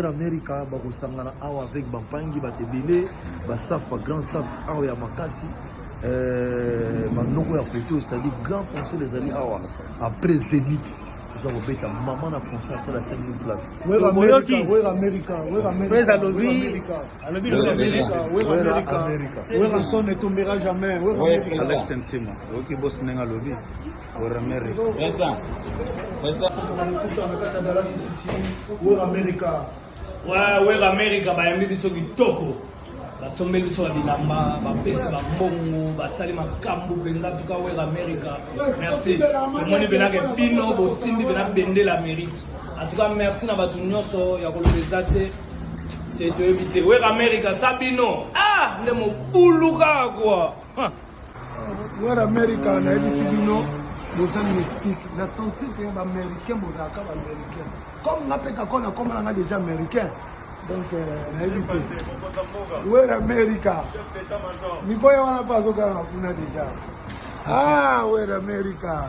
amerika bakosangana awa avec bampangi bato ebele bastaff bagrand staff awa ya makasi banoko ya foto osali grand conseil ezali awa après zenith toza kobeta mama na conscience alasaki place alobi lobi amerika wera amerika wera son etombera jamais alex ntima oyoki bosi ndenge alobi wera amerika wera amerika wera amerika bayambi biso kitoko basombeli biso ya bilamba bapesi bambongo basali makambo mpenza tuka wera amerika merci tomoni mpenake bino bosimbi mpena bendela amerika en tout cas merci na bato nyonso ya koloba eza te te toyebi te weka amerika sa bino ah nde mobulu kaka kua wera amerika nayebisi bino boza mystique na sentir mpe baaméricain bozalaka baaméricain comme nga mpe kako na komona nga déjà américain donc euh, nayebi te wera amerika mikoya wana mpe azokanga kuna déjà ah wera amerika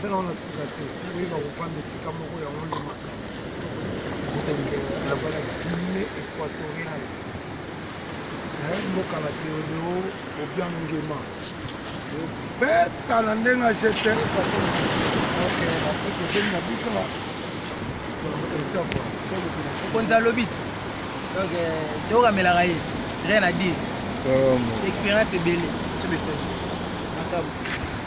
Zela wana suka te, oyo bakofanda esika moko yango nde makambo. Nazala Guinée équatoriale, mboka na Deodeo Obiang Nguema, beta na ndenge ya jete bakokoteli na biso mokonzi alobi donc euh, tokamelaka ye rien à dire expérience ebele to message makambo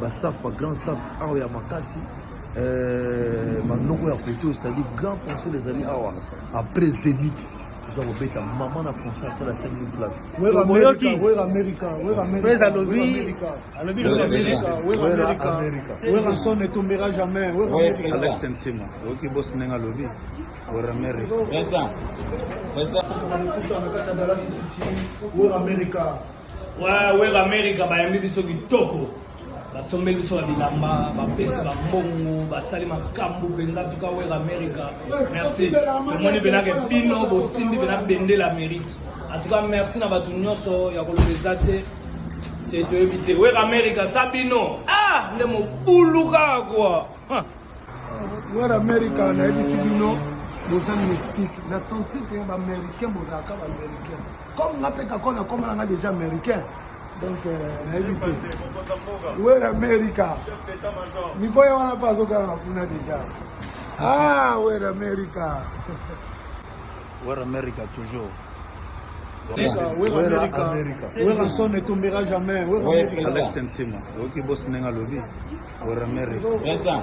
ba staff ba grand staff awa ya makasi euh, manoko ya koto osali grand conseil ezali awa après zenith toza kobeta mama na conscient asala 5000 place oyoki pres alobi alobi werasone tombera jamais alex ntima oyoki bosi ndenge alobi werameri Wera America. Ouais, Web America bayambi biso kitoko, basombeli biso babilamba, bapesi bambongo, basali makambo mpenza. Tuka Web America, merci. Tomoni mpenza ke bino bosimbi mpenza bende la Amerique. En tout cas, merci na bato nyonso ya koloba eza te te toyebi te. Web America sa bino ah nde mobulu kaka kwa Noir America nayebisi bino boza mystique na sentir mpe ba américain bozalaka ba américain comme nga mpe kako na komana nga déjà américain donc euh, nayebi te wer america mikoya wana mpe azokanga kuna déjà ah wer america Wera America toujours. Werrason ne tombera jamais. Alex Ntima, oyoki bosi ndenge alobi Wera America.